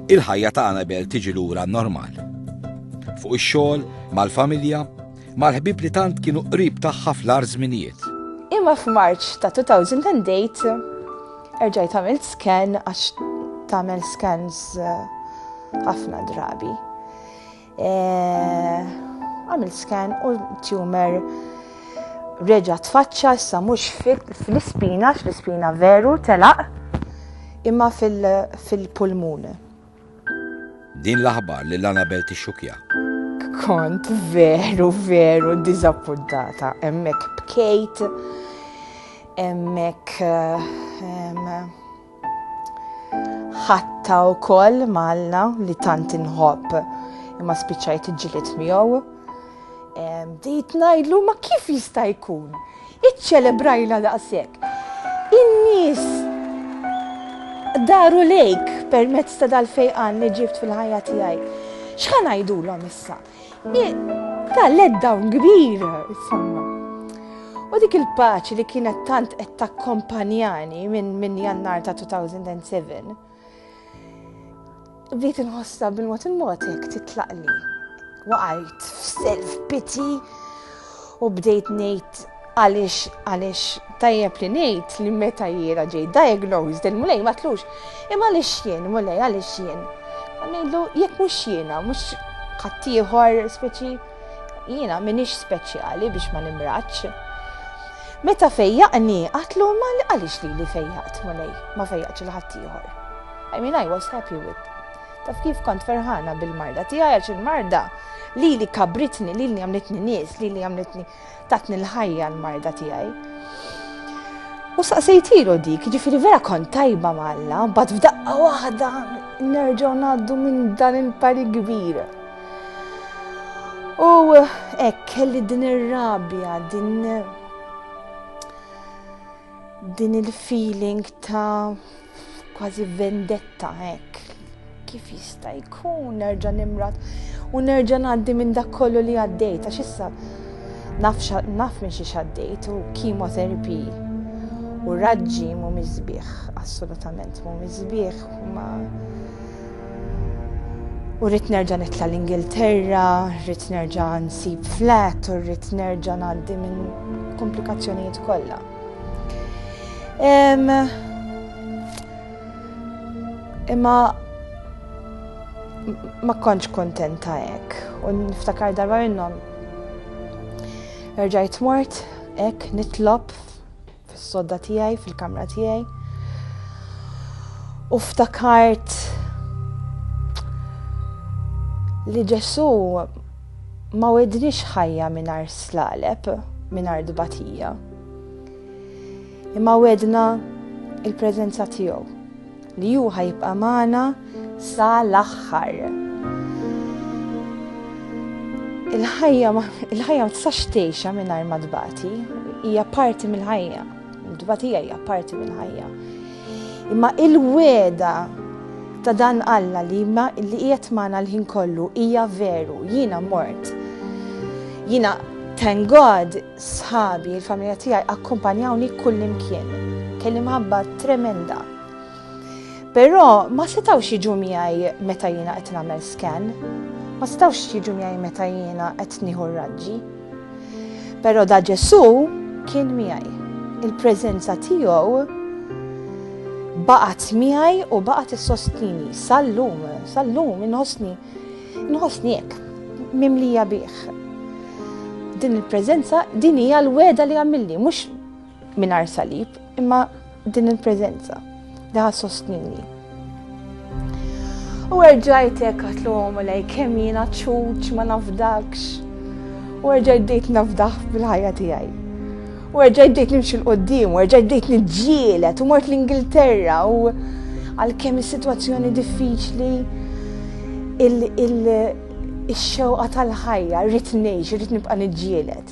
Il-ħajja ta' Anabel tiġi lura normal. Fuq ix-xogħol, mal-familja, mal-ħbib li tant kienu qrib tagħha fl-ar żminijiet. Imma f'Marċ ta' 2008 erġajt għamilt scan għax tagħmel scans eh, ħafna drabi. Għamilt scan u tumor reġa tfaċċa issa mhux fl-ispina, fl-ispina veru telaq, imma fil-pulmun. Din l-aħbar li l-Anabel tixxukja. Kont veru, veru dizappuntata, emmek bkejt, emmek Ħatta wkoll malna li tant inħobb imma spiċċajt iġġieled miegħu. Bdejt ngħidlu ma kif jista' jkun? Iċċelebrajna daqshekk. In-nies daru lejk permezz ta' dal-fejqan li ġibt fil-ħajja tiegħi. X'ħa ngħidulhom issa? Ta' let dawn kbir, insomma. U dik il-paċi li kienet tant qed takkompanjani minn min jannar ta' 2007, bdiet inħossha bil-mod il-mod jekk titlaqli. Waqajt f'self piti u bdejt ngħid għaliex għaliex tajjeb li ngħid li meta jiena ġej diagnosed il-mulej ma tlux. Imma għaliex jien, mulej għaliex jien. Ngħidlu jekk mhux jiena, mhux ħaddieħor speċi jiena minix speċjali biex ma nimraċ. Meta fejjaqni, għatlu ma għalix li li fejjaqt mulej, ma fejjaqt il-ħattijħor. I mean, I was happy with Taf kif kont ferħana bil-marda tiegħi għax il-marda li li kabritni, li li għamlitni nies, li li għamlitni tatni l-ħajja l-marda tiegħi. U saqsejtilu dik, ġifiri vera kont tajba malla, bat f'daqqa waħda nerġaw naddu minn dan il-pari kbir. U ek, kelli din ir-rabja, din din il-feeling ta' kważi vendetta hekk. Kif jista' jkun nerġa' nimrat u nerġa' ngħaddi minn dak kollu li għaddejt għax issa naf naf minn xi xaddejt u kimoterapi u raġġi mu mizbieħ, assolutament mu mizbieħ, ma U rrit nerġa' nitla l-Ingilterra, rrit nerġa' nsib flat, u rrit nerġa' ngħaddi minn komplikazzjonijiet kollha. Imma ma kontx kontenta hekk u niftakar darba minnhom. Erġajt mort hekk nitlob fis-sodda tiegħi fil-kamra tiegħi. U ftakart li Ġesu Ma wedniex ħajja mingħajr slaleb, mingħajr tbatija. Imma wedna il-preżenza tiegħu li hu ħajibqa' magħna sa l-aħħar. Il-ħajja ma tistax tgħixha mingħajr ma tbati, hija parti mill-ħajja. Il-tbatija hija parti mill-ħajja. Imma il-weda ta' dan Alla li ma li qiegħed magħna l-ħin kollu hija veru, jiena mort. Jiena thank God sħabi, il-familja tiegħi akkumpanjawni kullimkien. Kelli mħabba tremenda. Però ma setawx jiġu miegħi meta jiena qed nagħmel scan, ma setawx jiġu miegħi meta jiena qed nieħu raġġi. Però da Ġesù kien miegħi. Il-preżenza tiegħu baqgħet miegħi u baqgħet issostini sal-lum, sal-lum inħossni inħossni hekk mimlija bih. Din il-preżenza din hija l-weda li għamilli, mhux Mingħajr salib, imma din il-preżenza li ħa sostnini. U erġajt hekk għatlu għomu lej kemm jiena ċuċ ma nafdakx. U erġajt dejt nafdaħ bil-ħajja tiegħi. U erġajt dejt nimxi l-qoddim, u erġajt dejt nġielet, u mort l-Ingilterra, u għal-kemm is-sitwazzjoni diffiċli il-xewqa tal-ħajja, rrit ngħix, rrit nibqa' niġġielet.